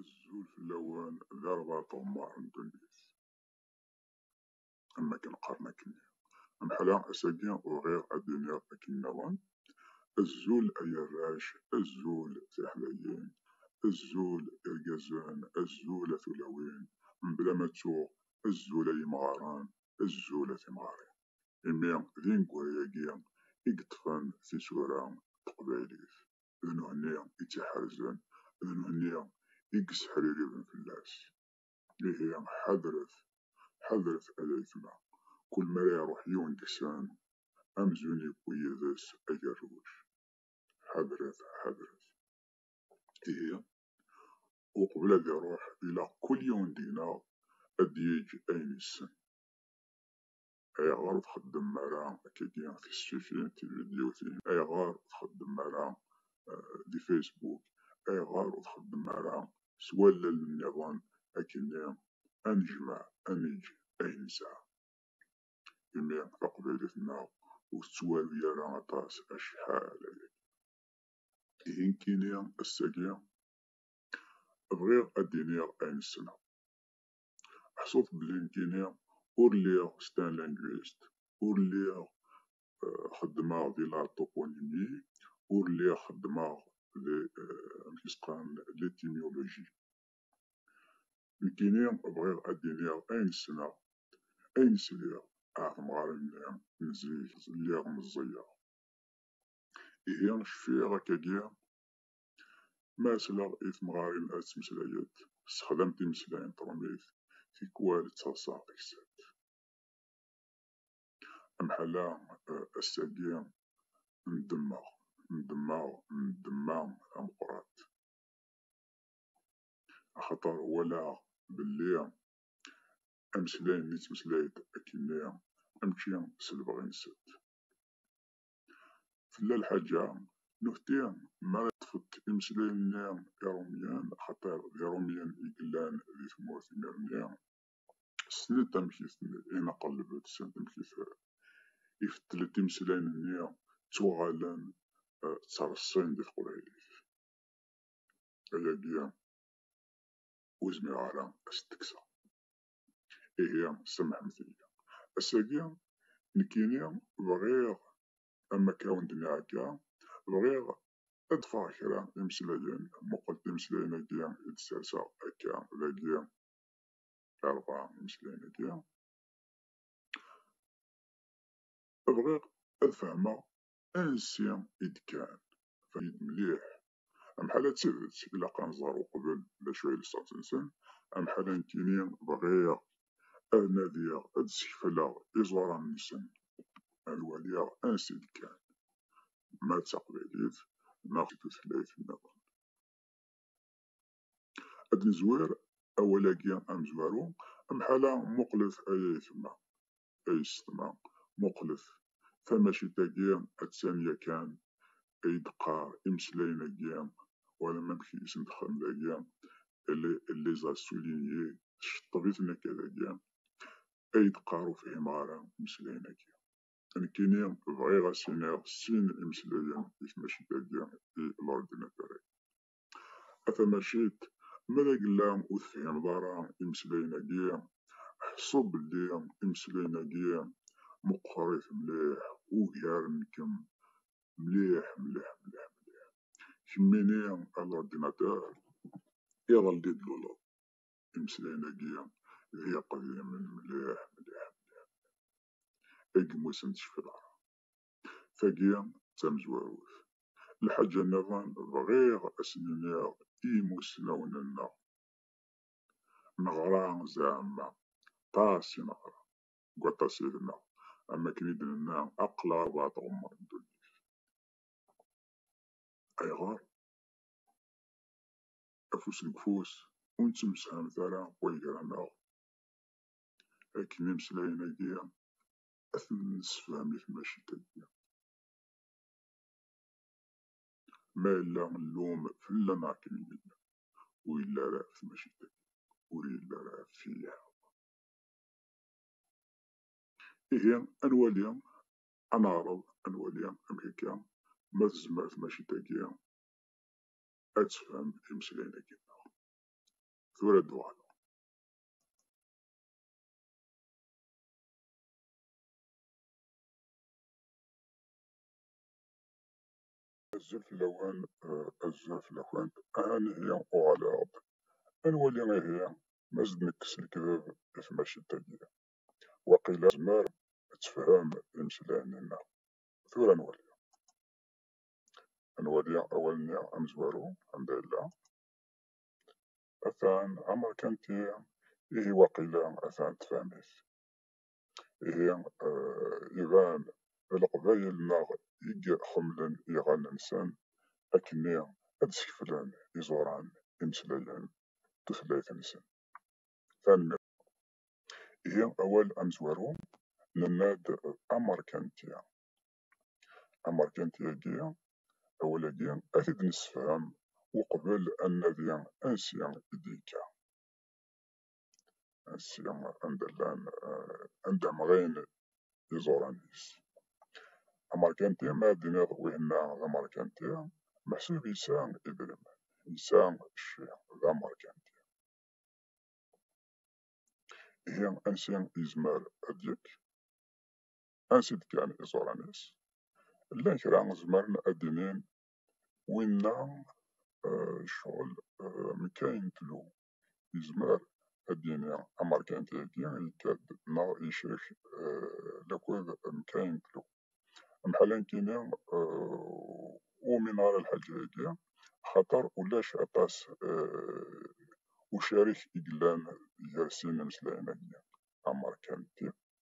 Azul fell-awen d arbaɛt uɣemmar n ddunit. Am wakken qqaren akkenni. Amḥala ass-agi bɣiɣ ad d-iniɣ akken nniḍen, Azul ay arrac, azul tiḥdayin, azul irgazen, azul a tulawin, mebla ma ttuɣ, azul ay imɣaren, azul a timɣarin. Imi d ineggura-agi i yeṭṭfen tisura n teqbaylit. d nekkni i tt-iḥerzen, d nekkni i yesseḥririben fell-as. Ihi ḥadret, ḥadret ay ayetma, kul mi ara iṛuḥ yiwen deg-sen, amzun yewwi yid-s agerruj. Ḥadret, ḥadret. Ihi, uqbel ad iṛuḥ, ilaq kul yiwen deg-neɣ ad d-yeǧǧ ayen yessen. Ayɣer ur txeddmem ara akkagi tisfifin, tividyutin? Ayɣer ur txeddmem ara di Facebook? Ayɣer ur txeddmem ara s wallal nniḍen akkenni ad nejmeɛ, ad neǧǧ ayen nesɛa? Imi taqbaylit-nneɣ ur tettwaru ara aṭas acḥal ayagi. Ihi nekkini ass-agi bɣiɣ ad d-iniɣ ayen ssneɣ. ḥṣut belli nekkini ur lliɣ s tanlangwist, ur lliɣ xeddmeɣ di la toponymie, ur lliɣ xeddmeɣ di amek i s-qqaren l'étymologie. Nekkini bɣiɣ ad d-iniɣ ayen ssneɣ, ayen sliɣ ar temɣarin-nni n zik, lliɣ meẓẓiyeɣ. Ihi cfiɣ akkagi Ma asleɣ i temɣarin ad ttmeslayent, sexdam timeslayin ṭrumit, tikwal d taḍsa taksant. Amḥal-a ass-agi ndemmeɣ, ndemmeɣ, ndemma tameqqrant. Axaṭer walaɣ belli ameslay-nni ttmeslay-d akkenni, mačči s lebɣi-nsent. Tella lḥaǧa, nutni mi ara tfekk imeslayen-nni irumyen, axaṭer d irumyen i yellan di tmurt imir-nni, ssnent amek i ten-ineqleb, ssnent amek i ifeddlen imeslayen-nni, ttuɣalen ttreṣṣin di teqbaylit. Ayagi ur zmireɣ ara ad s-d-kkseɣ. ihi semḥemt-iyi ass-agi nekkini bɣiɣ am akka awen-d-nɛegga bɣiɣ ad ḍfeɣ kra imeslayen muqel timeslayen-agi i d-serseɣ akka dagi arbaɛ imeslayen-agi bɣiɣ ad fehmeɣ ansi i d-kkan. Fahim-it mliḥ. Amḥala d tidet, ilaq ad nẓer uqbel d acu ay d ṣṣenṣen. Amḥala nekkini bɣiɣ ad nadiɣ ad d-skefleɣ iẓuran-nsen, ad waliɣ ansi d-kkan, ma d taqbaylit neɣ d tutlayt niḍen. Ad d-nezwir awal-agi amezwaru, amḥala muqlet ay ayetma, ay ṣeḍma, muqlet, tamacit-agi attan yakan ay d-qqar imeslayen-agi, wala ma amek i sen-texdem dagi, elle les a soulignés, tceṭṭeb-iten akka dagi, ay d-qqar ur fhimeɣ ara imeslayen-agi. Nekkini bɣiɣ a s-iniɣ sin imeslayen i tmacit-agi i l'ordinateur-agi. A tamacit, ma d agella ur tefhimeḍ ara imeslayen-agi, ḥṣu belli imeslayen-agi meqqerit mliḥ, ugaren-kem mliḥ mliḥ mliḥ mliḥ. Kemmini a l'ordinateur, iḍelli i d-luleḍ, imeslayen-agi d iqdimen mliḥ mliḥ mliḥ mliḥ. Agmus n tcefla. Tagi d tamezwarut. Lḥaǧa nniḍen bɣiɣ ad sen-iniɣ i yimussnawen-nneɣ. Neɣra zeɛma, ṭas i neɣra, deg waṭas i d-neɣ, am akken i d-nenna aql-aɣ bɣa tɣemmer ddunit. Ayɣer? Afus deg ufus, ur nettemsefhamet ara wayegra-nneɣ. Akken imeslayen-agi ad ten-nessefhem i tmacint-agi. Ma yella llum fell-a neɣ akken yella, ur yelli ara ɣef tmacint-agi, ur yelli ara ɣef tili. Ihi ad nwali, ad neɛreḍ ad nwali amek akka ma tezmer tmacint-agi ad tefhem imeslayen-agi. Tura ad d-uɣaleɣ. Azul fell-awen, azul fell-akent, aha ihi uɣaleɣ-d ad nwali ihi ma s d-nekkes lekdeb i tmacint-agi, waqila tezmer ad tefhem imeslayen-nneɣ. Tura ad nwali. Ad nwali awal-nni amezwaru, anda yella. atan amerkanti ihi waqila atan tefhem-it ihi iban d leqbayel neɣ i iḥemmlen iɣallen-nsen akkenni ad skeflen iẓuran imeslayen tutlayt-nsen. Tanemmirt. Ihi awal amezwaru nenna-d amerkanti. amerkanti-agi, awal-agi, ad t-id-nessefhem uqbel ad nadi ansi i d-yekka, ansi anda llan, anda mɣin iẓuran-is. Amerkanti, ma ad d-tiniḍ winna d amerkanti, meḥsub yesɛa idrimen, yesɛa cci, d amerkanti. Ihi ansi yezmer ad d-yekk? ansi-d kan iẓuran-is. Llan kra zemren ad d-inin winna ccɣel mkay n tlu, yezmer ad d-yini amerkanti-agi yekka-d neɣ yecrek lakud mkay n tlu. Amḥal ad nekini ur umineɣ ara lḥaǧa-agi axaṭer ulac aṭas ucarik i yellan gar sin imeslayen-agi, amerkanti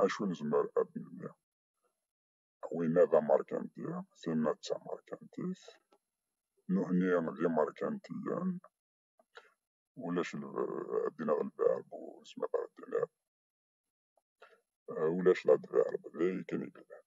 acu nezmer ad d-nelli? Winna d amerkanti, tinna d tamerkantit, nutni d imerkantiyen, ulac ad d-iniɣ lverb ur nezmer ara ad d-iniɣ ulac l-adverb, d ayen kan i yellan.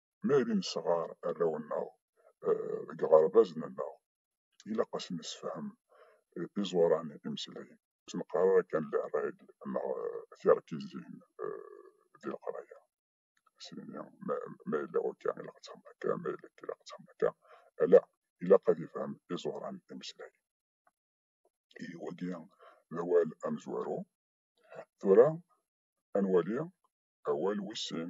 mi ara nesɣer arraw-nneɣ deg yiɣerbaz-nneɣ, ilaq ad sen-nessefhem iẓuran imeslayen. Ur neqqar ara kan les règles neɣ tirkizin di leqraya, syenni ma yella akka ilaq ad txedmeḍ akka, ma yella akka ilaq ad txedmeḍ akka, ala ilaq ad ifhem iẓuran imeslayen. Ihi wagi d awal amezwaru. Tura ad nwali awal wis sin.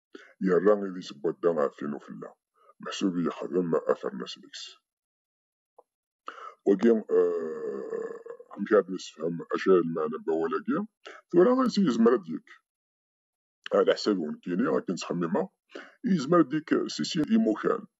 yerra idis n wadda ɣef tin ufella, meḥsub yexdem afernas deg-s. Wagi, amek ad nessefhem acu ay lmeɛna n wawal-agi? Tura ansi yezmer ad d-yekk? Ɛad aḥsab-iw nekkini, akken ttxemmimeɣ, yezmer ad d-yekk si sin imukan.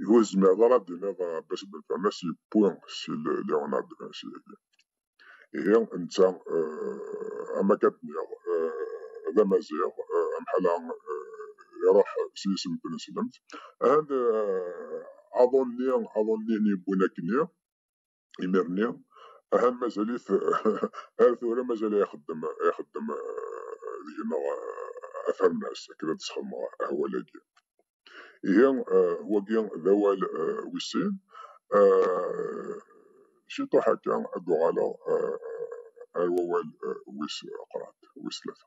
Ihi ur tezmireḍ ara ad d-tiniḍ Ɛebbas Ben Fernas yewwi si Leonard de Vinci-agi. Ihi netta, am akka d-nniɣ, d amaziɣ, amḥala iruḥ s yisem n tneslemt. Ahan aḍu-nni, aḍu-nni i yewwin akkenni. imir-nni aha mazal-it ar tura mazal ixeddem ixeddem deg-neɣ afernas akken ad sxedmeɣ ahwal-agi ihi wagi d awal wis sin ciṭuḥ akka ad d-uɣaleɣ ar wawal wis qrad wis tlata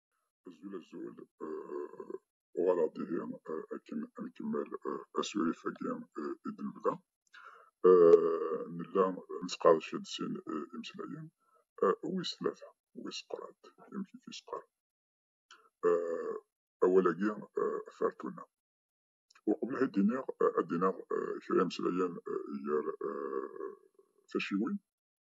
Azul azul, uɣaleɣ-d ihi akken ad nkemmel asurif-agi i d-nebda. Nella nettqerdec-d sin imeslayen, wis tlata, wis qrad, amek i t-yeqqar, awal-agi Fertuna. Uqbel ad d-iniɣ, ad d-iniɣ kra imeslayen gar taciwin,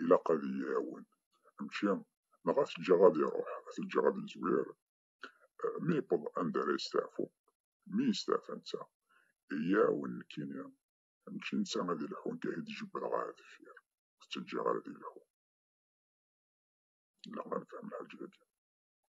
ilaq ad iyi-iɛawen. Mačči neɣ ad t-ǧǧeɣ ad iruḥ, ad t-ǧǧeɣ ad yezwir. Mi yewweḍ anda ara yesteɛfu, mi yesteɛfa netta, iyi-iɛawen nekkini. Mačči netta ad ilḥu, nekk ad t-id-jebbdeɣ ɣer deffir, ur t-ǧǧiɣ ara ad ilḥu. Ilaq ad nefhem lḥaǧa-agi.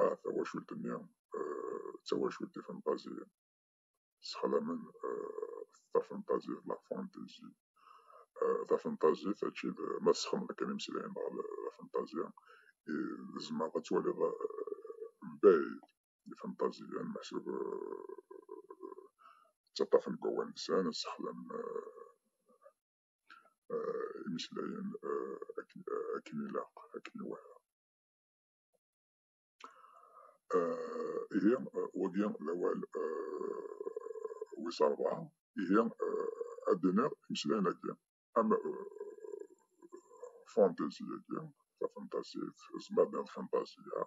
a tawacult-nni d tawacult ifenṭaziyen, ssexdamen tafenṭazit, la fantaisie. Tafenṭazit mačči d ma tessexdameḍ kan imeslayen dɣa d afenṭazya, tzemreḍ ad twaliḍ mebɛid ifenṭaziyen meḥsub ttaṭṭafen deg wawal-nsen, ssexdamen imeslayen akken ilaq, akken iwata. ihi wagi d awal wis rebɛa ihi ad d-iniɣ imeslayen-agi am fantazy-agi tafenṭasit tzemar d lfenṭasya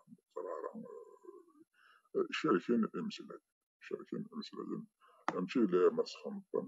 cerken imeslayen cerken imeslayen mačči d ayen ma sxenṭen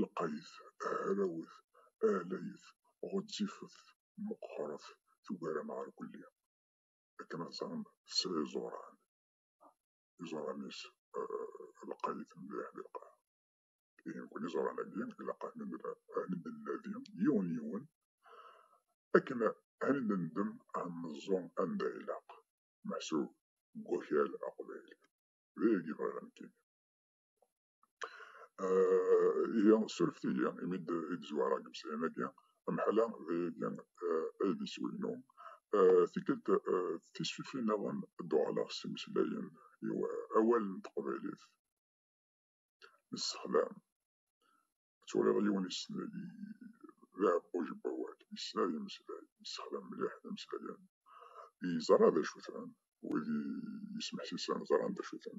lqayet, hrawet, ahlayet, ɣezzifet, meqqret, tugar ameɛrkulli. Akken ad teẓrem tesɛa iẓuran, iẓuran-is lqayet mliḥ di lqaɛa. Ihi nekkni iẓuran-agi ilaq ad nennadi yiwen yiwen akken ad nendem ad neẓẓu anda ilaq, meḥsub deg wakal aqbayli. D ayagi bɣiɣ nekkini. ihi surfet iyi imi d i d-zwara deg umsayan-agi amḥala d ayagi ay d iswi-inu tikkelt tisfifin-nniḍen ad d-uɣaleɣ s imeslayen i awal n teqbaylit nessexdam ad turiḍ yiwen d aɛebboj n wawal yessen ad yemmeslay yessexdam mliḥ imeslayen yeẓra d acu-ten wid yesmeḥsisen ẓran d acu-ten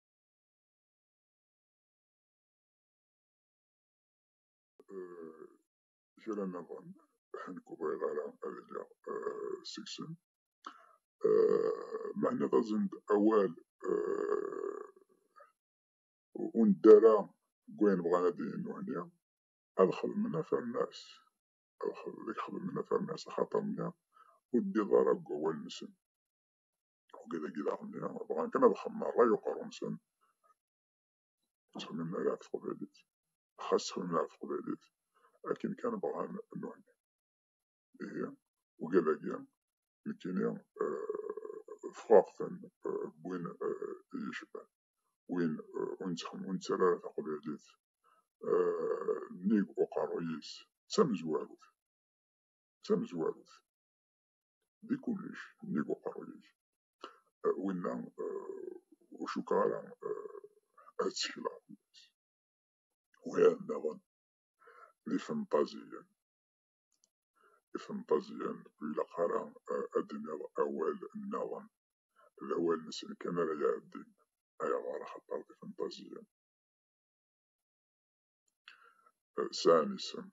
kra nniḍen ḥen ur bɣiɣ ara ad iliɣ seg-sen meɛna d aẓend awal ur nedda ara deg wayen bɣan ad d-inin nutni ad xedmen afermas ad xedmen afermas axaṭer nniɣ ur teddiḍ ara deg wawal-nsen Ugi dagi daɣen-nni, bɣan kan ad xemmeṛ ṛṛay uqerru-nsen. Ttxemmimen ala ɣef teqbaylit. Xas ttxemmimen ɣef teqbaylit, akken kan bɣan nnuɣen. Ihi, ugi dagi, nekkini fɣeɣ-ten win iyi-cebban. Win ur nettxemmim, ur nettara ara taqbaylit nnig uqerru-is, d tamezwarut. D tamezwarut. di kullec nnig uqerruy-ik. Winna ur cukkeɣ ara ad ttekleɣ fell-as. Ugar daɣen d ifenṭaziyen. Ifenṭaziyen ur ilaq ara ad d-iniɣ awal nniḍen, d awal-nsen kan ara iɛeddin. Ayɣer? Axaṭer d ifenṭaziyen. Sɛan isem,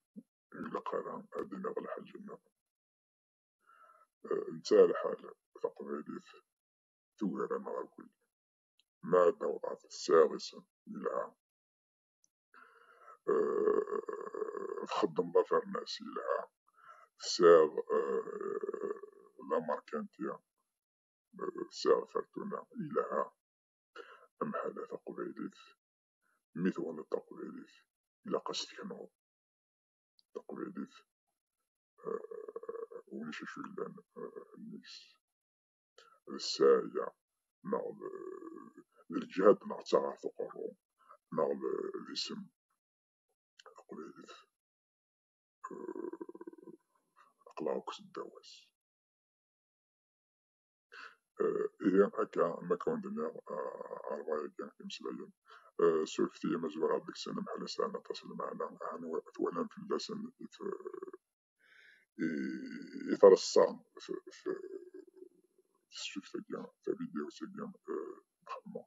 ur ilaq ara ad d-iniɣ lḥaǧa nniḍen. netta lḥal taqbaylit tugar amɣakul ma ad naweḍ ɣer tesɛiḍ isem yelha txeddmeḍ afernas yelha tesɛiḍ lamarkanti tesɛiḍ fertuna yelha amḥala taqbaylit mi twaniḍ taqbaylit ilaq ad s-teknuḍ taqbaylit ulac acu yellan nnig-s d ssɛaya neɣ d lǧehd neɣ d taɣaɛt uqerru neɣ d isem taqbaylit aqlaɣ akk seddaw-as ihi akka ma kawen-d-nniɣ rrwaye agi imeslayen surket i yimezwura deg-sen mḥala sɛan aṭas n lmeɛna aɛni twalam fell-asen i treṣṣa tessukta-agi tavidyawt-agi nxemmem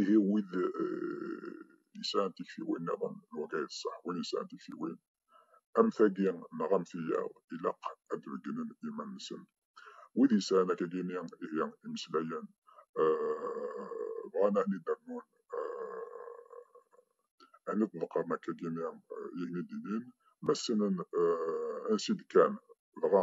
ihi wid yesɛan tiktiwin niḍen lwaqa i ṣṣeḥ win yesɛan tiktiwin am tagi neɣ am tiyaḍ ilaq ad d-beggnen iman-nsen wid yesɛan akagini ihi imeslayen bɣan ahni d-rnun ahni d-ḍeqqren akagini ihi d-inin ma ssnen ansi d-kkan dɣa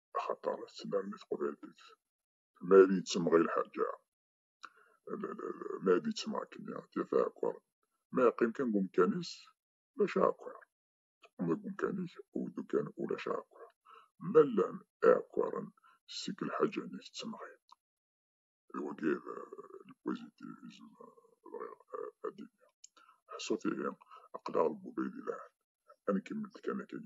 axaṭer tlam tqbaylit ma ad yettemɣi lḥaǧa ma ad yettemɣi akken tifa akwar ma yeqqim kan deg umkan-is ulac akwar teqqim deg umkan-ik u dukan ulac akwar ma llan iɛekkaren seg lḥaǧa-nni tettemɣi d wagi lpozitivism bɣiɣ ad d-iniɣ ḥṣut ihi aql-aɣ deg ubrid yelhan ad nkemmel kan akkin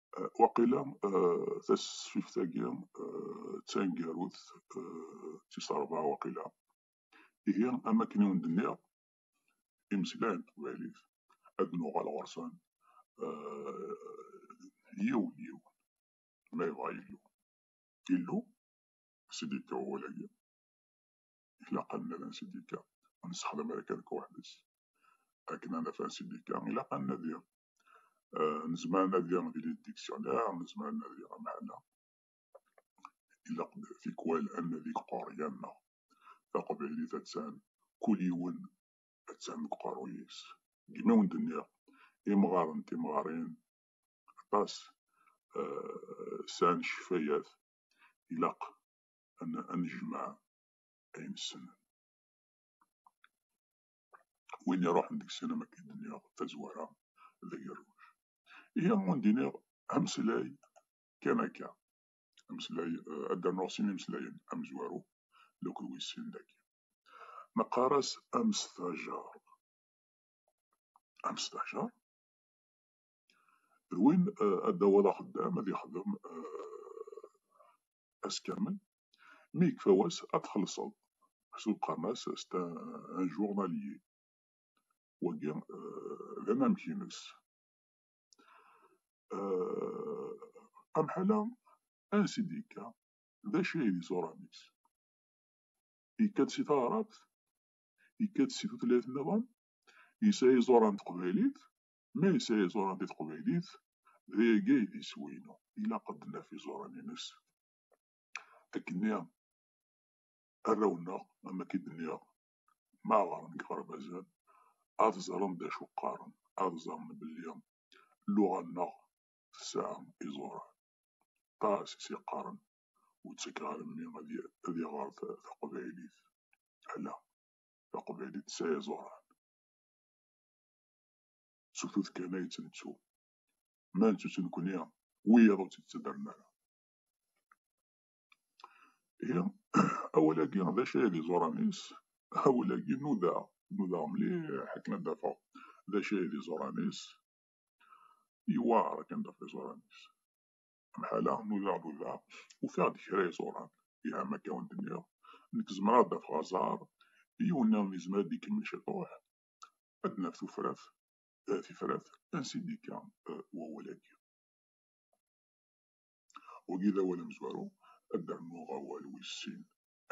waqila tasfift-agi d taneggarut d tis ṛebɛa waqila, ihi am wakken i wen-d-nniɣ imeslayen n teqbaylit ad nuɣal ɣur-sen yiwen yiwen ma yebɣa Yillu. Illu, as-d yekka wawal-agi. ilaqen ad nsidika ur nessexdam ara kan weḥd-s akken ad naf ansidika ilaq ad nadi eh, nezmer ad nadi di lidiksyonir nezmer ad nadi amɛana ilaq tikwal ad nadi deg quryan-nneɣ taqbaylit attan kul yiwen attan deg uqerruy-is deg mi wen-d-nniɣ imɣaren timɣarin aṭas eh, sɛan ccfayat ilaq ad nejmeɛ ayen ssnen. Win iruḥen deg-sen am akken d-nniɣ tazwara d agerruj. Ihi am win d-iniɣ ameslay kan akka, ameslay eh, ad d-rnuɣ sin imeslayen, amezwaru d akked wis sin dagi. Neqqar-as amestajar. Amestajar Rwin ad d-aweḍ axeddam ad yexdem ass kamel, mi yekfa wass ad txellṣeḍ, ḥsu qqaren-as c'est un journalier, wagi d anamek-ines. Amḥal-a, ansi d-yekka? D acu ay d iẓuran-is? Yekka-d si taɛrabt? Yekka-d si tutlayt niḍen? Yesɛa iẓuran n teqbaylit? Ma yesɛa iẓuran di teqbaylit, d ayagi ay d iswi-inu. Ilaq ad d-naf iẓuran-nnes. Akkenni, arraw-nneɣ, am wakk i d-nniɣ, ma ɣren deg yiɣerbazen, ad ẓren d acu qqaren, ad ẓren belli lluɣa-nneɣ tesɛa iẓuran. Ṭas i s-yeqqaren, ur ttakeɣ ara mmi ad iɣer taqbaylit. Ala, taqbaylit tesɛa iẓuran. s ufud kan ay tt-nettu, ma nettu-tt nekkni, wiyaḍ ur tt-id-ttaddren ara. Ihi, awal-agi d acu ay d iẓuran-is? Awal-agi nudaɣ, nudaɣ mliḥ akken ad d-afeɣ d acu ay d iẓuran-is. Yewɛeṛ akken ad d-afeɣ iẓuran-is. Amḥala, nudaɣ, nudaɣ, ufiɣ-d kra iẓuran. Iha, ma akka awen-d-nniɣ, nekk zemreɣ ad d-afeɣ aẓar, yiwen niḍen yezmer ad d-ikemmel ciṭuḥ, ad naf tufrat eh, tifrat ansindika eh, wawal-agi wagi d awal amezwaru ad d-rnuɣ awal wis sin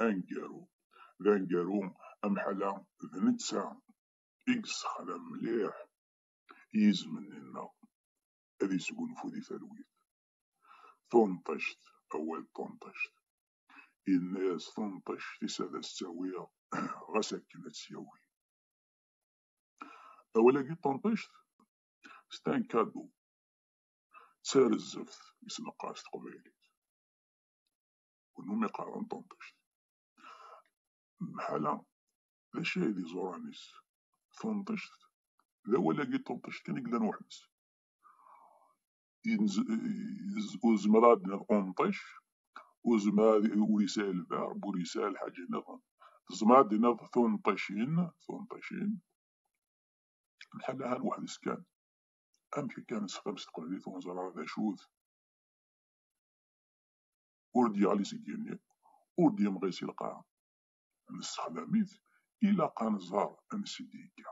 aneggaru d aneggaru amḥala d netta i yessexdam mliḥ yizem-nni-nneɣ ad yesgunfu di talwit tunṭict, awal tunṭict. Yenna-yas tunṭict-is ad as-tt-awiɣ ɣas akken ad tt-yawi. Awal-agi tunṭict, c'est un cadeau, d tarezzeft i s-neqqar s teqbaylit. Kunwi qqaren tunṭict. Mḥala, d acu ay d iẓuran-is? Tunṭict, d awal-agi tunṭict kan i yellan weḥd-s. ur zemreɣ ad d-naf qunṭic, ur zemreɣ ad ur yesɛi lberb, ur yesɛi lḥaǧa niḍen. Tezmer ad d-naf tunṭicin, tunṭicin, lḥal ahan weḥd-s kan. Amek akka nesxdam s teqbaylit ur neẓri ara d acu-t? Ur d-yeɣli seg yigenni, ur d-yemɣi si lqaɛa. Nessexdam-it, ilaq ad nẓer ansi d-yekka.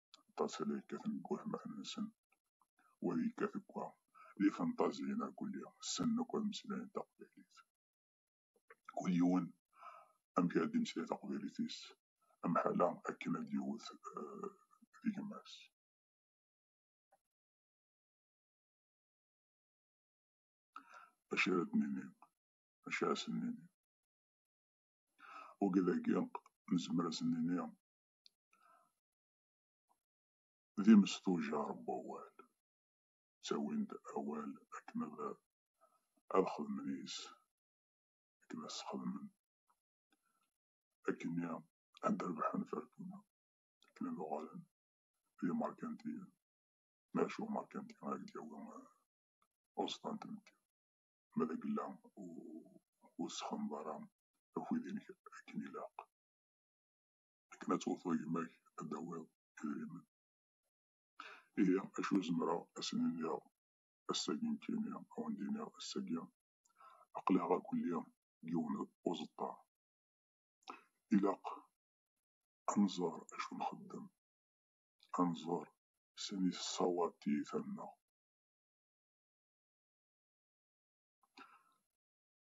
aṭas ay la yekkaten deg watmaten-nsen, wa yekkat deg wa, d ifenṭaziyen irkelli, ssnen akk ad mmeslayen taqbaylit. Kul yiwen amek ara d-imeslay taqbaylit-is, amḥal-a akken ad d-yewwet di gma-s. Acu ara d-nini? Acu ara sen-nini? Wagi dagi nezmer ad sen-nini d imesṭujar n wawal, ttawin-d awal akken ad xedmen yes-s, akken ad s-xedmen, akkenni ad d-rebḥen Fertuna, akken ad uɣalen d imerkantiyen, ma acu umerkanti ad ak-d-yawi uẓeṭṭa n tmetti, ma d agella ur tessexdameḍ ara akud-inek akken ilaq. akken ad twafeḍ gma-k ad d-tawiḍ idrimen. Ihi acu zemreɣ ad sen-iniɣ ass-agi nekkini, ad awen-d-iniɣ ass-agi, aql-aɣ akk lliɣ deg yiwen uẓeṭṭa. Ilaq ad nẓer acu nxeddem, ad nẓer sani tessawaḍ tiyita-nneɣ.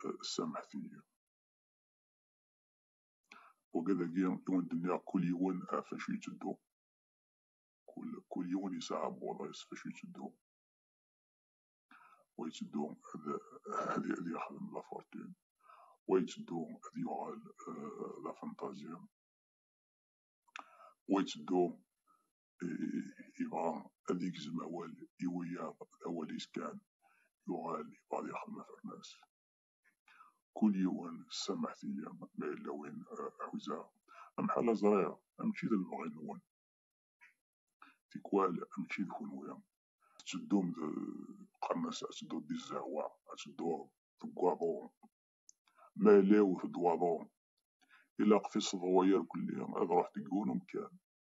tasemmaḥt-iyi. Wagad-agi i wen-d-nniɣ kul yiwen ɣef acu yetteddu, kul kul yiwen yesɛa abwaḍ-is ɣef acu yetteddu, wa yetteddu ad ad ad yexdem la fortune, wa yetteddu ad yuɣal d afenṭazya, wa yetteddu يبغى ad yegzem awal i wiyaḍ d awal-is kan yuɣal yebɣa ad yexdem afernas kul yiwen samaḥet-iyi ma yella win ḥuzaɣ amḥal aẓriɣ amčči d lebɣi-nwen tikwal amčči d kunwi tetteddum d qernas ad tedduḍ di zzehwa ad tedduḍ deg waḍu ma yella yewwet-d waḍu ilaq tiseḍwa yerkelli ad ruḥ deg yiwen umkan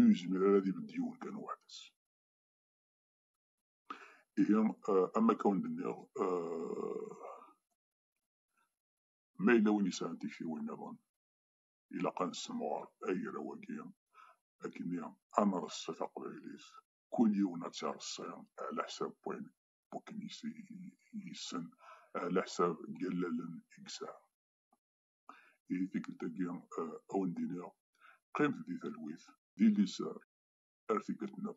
ur yezmir ara ad ibedd yiwen kan weḥd-s. Ihi, am akka wen d-nniɣ, ma yella win yesɛan tiktiwin niḍen, ilaq ad nessemɣer agraw-agi akken ad nreṣṣi taqbaylit, kul yiwen ad tt-ireṣṣi ɛla ḥsab wayen wakken yessen, ɛla ḥsab n yallalen i yesɛa. i tikkelt-agi a wen-d-iniɣ qqimet di talwit, di liser ar tikkelt-nneɣ.